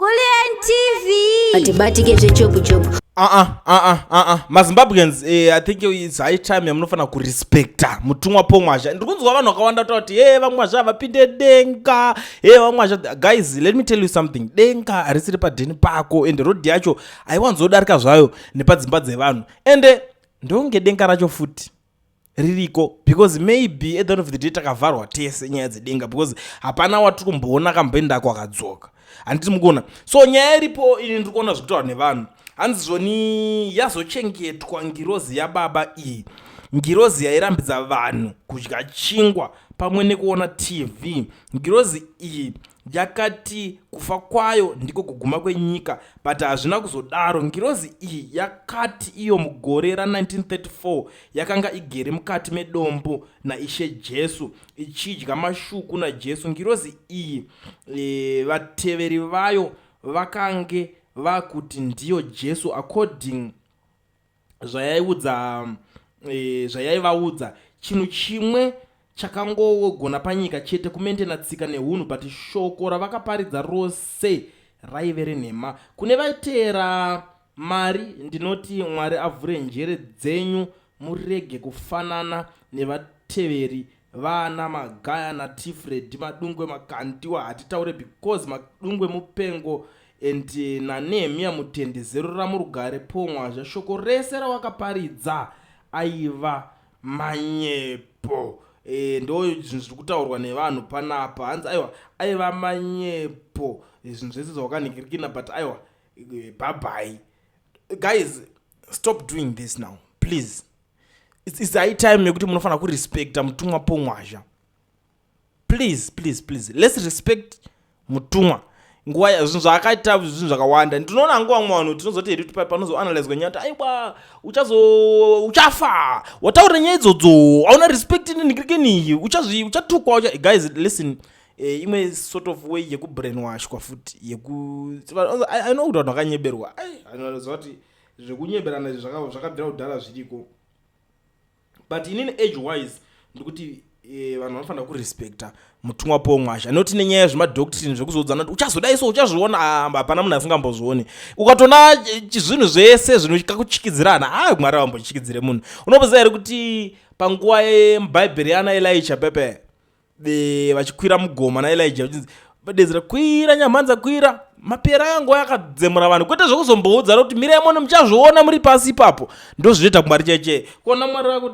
Kulliant TV. Batibatike zvechopu chopu. Ah ah ah ah ah ah. Mazimbabweans eh, I think it's high time yamunofanira kurespecta mutumwa pomwazha. Ndiri kunzwa vanhu vakawanda kuti kuti hey vamwazha vapinde denga. Hey vamwazha guys let me tell you something. Denga harisiri padheni pako and road yacho haiwanzodarika zvayo nepadzimba dzevanhu. Ende ndonge denga racho futi. ririko because maybe at the end of the day takavharwa tese nyaya dzedenga because hapana watiri kumboona akamboendako akadzoka handiti mukuona so nyaya iripo ini ndiri kuona zvekutaura nevanhu hanzi zvoni yazochengetwa ngirozi yababa iyi ngirozi yairambidza vanhu kudya chingwa pamwe nekuona tv ngirozi iyi yakati kufa kwayo ndiko kuguma kwenyika but hazvina kuzodaro ngirozi iyi yakati iyo mugore ra1934 yakanga igere mukati medombo naishe jesu ichidya mashuku najesu ngirozi iyi e, vateveri vayo vakange vakuti ndiyo jesu according zvayaiudza e, zvayaivaudza chinhu chimwe chakangogona panyika chete kumentena tsika nehunhu but shoko ravakaparidza rose raive renhema kune vaiteera mari ndinoti mwari avhure njere dzenyu murege kufanana nevateveri Vana magaya na tifred madungwe makandiwa hatitaure because madungwe mupengo and eh, na nehemiya mutende zerura murugare pomwazha shoko rese rawakaparidza aiva manyepo e, ndo zvinhu zviri kutaurwa nevanhu panapa hanzi aiwa aiva manyepo eh, zvinhu zvese zvawakanhikirikina but aiwa bhabhai guys stop doing this now please its high time yekuti munofanira kurespecta mutumwa pomwazha please please please lets respect mutumwa nguva yazvinhu zvaakaita zvinhu zvakawanda ndinoona nguva vamwe vanhu tinozoti hedu tipai panozoanalizwa nyaya kuti aiwa uchazo uchafa wataura nyaya idzodzo auna respect nendikirikeniyi uchazvi uchatukwa ucha guys listen eh, imwe sort of way yekubrainwashwa futi yeku i know kuti vanhu vakanyeberwa ai anozoa kuti zvekunyeberana izvi zvaka- zvakabvira kudhara zviriko but inini age wise ndikuti eh, vanhu vanofanira kurespecta mutumwa paul mwasha not nenyaya yezvemadoctrine zvekuzoudzana kuti uchazodai so uchazviona ah, hapana munhu asingambozvioni ukatoona eh, chi- zvinhu zvese zvinokakuchikidzirana ha mwari avambochikidzire munhu unopoziva here kuti panguva yebhaibheri yaana elisha pepe eh, vachikwira mugoma naelija vachinzi vadedzera kwira nyamhanza kwira mapera aya nguva yakadzemura vanhu kwete zvekuzomboudzana kuti mirai mono muchazviona muri pasi ipapo ndozvinoita kumwari chaichee kuona mwari vako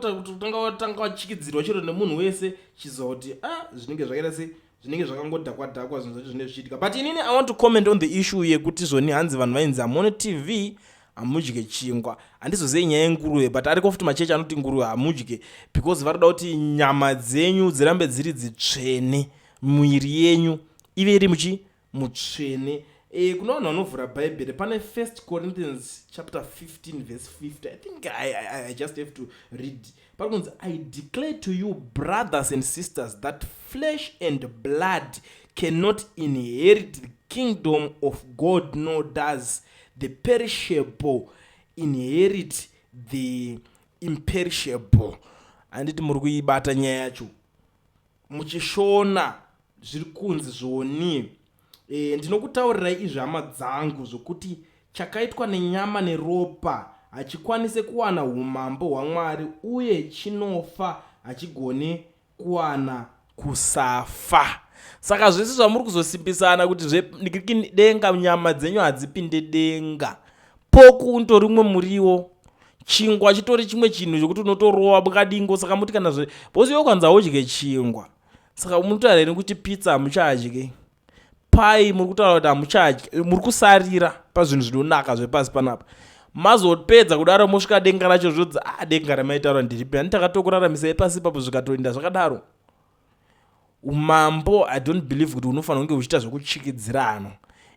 tanga vachikidzirwa chero nemunhu wese chizoti a ah, zvinenge zvakaita sei zvinenge zvakangodhakwadhakwa zvinhu zvacho zvinenge zvichiitika but inini i want to comment on the issue yekuti zvoni hanzi vanhu vainzi hamone tv hamudye chingwa handizozive nyaya yenguruve but ariko futi machechi anoti nguruve hamudye because vanoda kuti nyama dzenyu dzirambe dziri dzitsvene muviri yenyu ive iri muchi mutsvene e, kuna vanhu vanovhura bhaibheri pane first corinthians chapter 15 verse 50 i think I, I, i just have to read pari kunzi i declare to you brothers and sisters that flesh and blood cannot inherit the kingdom of god nor does the perishable inherit the imperishable handiti muri kuibata nyaya yacho muchishona zviri kunzi zvionii e, ndinokutaurirai izvi hama dzangu zvokuti chakaitwa nenyama neropa hachikwanise kuwana umambo hwamwari uye chinofa hachigone kuwana kusafa saka zvese zvamuri kuzosimbisana kuti zvedenga nyama dzenyu hadzipinde denga poku unotori umwe muriwo chingwa chitori chimwe chinhu chekuti unotorova bukadingo saka muti kana zve bhozi yo kwanza udye chingwa saka munotaura here kuti pizza hamuchadye pai muri kutaura kuti hamuchadye muri kusarira pazvinhu zvinonaka zvepasi panapa mazopedza kudaro mosvika denga racho zvodzi a ah, denga ramaitaura ndiripi ani takatokuraramisa epasi ipapo zvikatoinda zvakadaro umambo i don't believe kuti unofanira kunge uchiita zvekuchikidzirano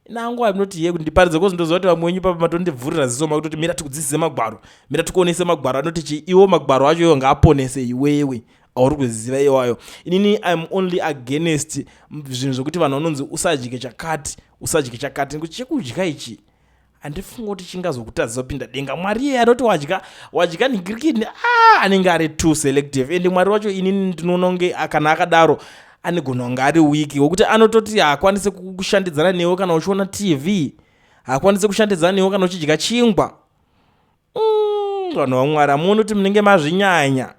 nangu anoti ye ndiparidze kozi ndoziva kuti vamwe wenyu papa matondibvurira ziso makutoti mira tikudzidzise magwaro mira tikuonese magwaro anoti chii iwo magwaro acho iwo ngaaponese iwewe auri kuziva iwayo inini iam only against zvinhu zvekuti vanhu vanonzi usadye chakati usadye chakati nekuti chekudya ichi handifunga kuti chingazokutadzisa kupinda denga mwari iye anoti wadya wadya nigirikini a anenge ari too selective ende mwari wacho inini ndinoona kunge kana akadaro anigona kunge ari wiki wokuti anototi haakwanise kushandidzana newe kana uchiona tv haakwanise kushandidzana newe kana uchidya chingwa mm, vanhu vamwari amuoni kuti munenge mazvinyanya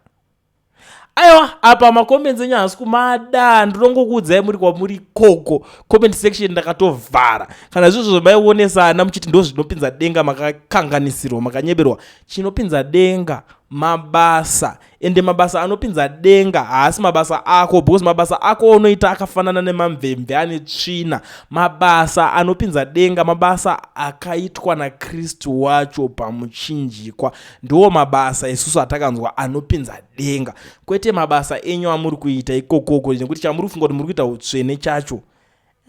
aiwa apa macomments enyu haasi kumada ndinongokuudzai muri kwamuri koko comment section ndakatovhara kana zvizvo zvomaionesana muchiti ndo zvinopinza denga makakanganisirwa makanyeberwa chinopinza denga mabasa ende mabasa anopinza denga haasi mabasa ako because mabasa ako unoita akafanana nemamvemve ane tsvina mabasa anopinza denga mabasa akaitwa nakristu wacho pamuchinjikwa ndiwo mabasa isusu atakanzwa anopinza denga kwete mabasa enyu amuri kuita ikokoko nekuti chamuri kufunga kuti muri kuita utsvene chacho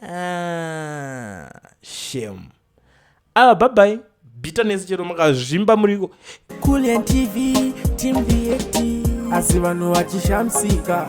ah, shem ava bhabai bitterness chero makazvimba muriko asi vanhu vachishamisika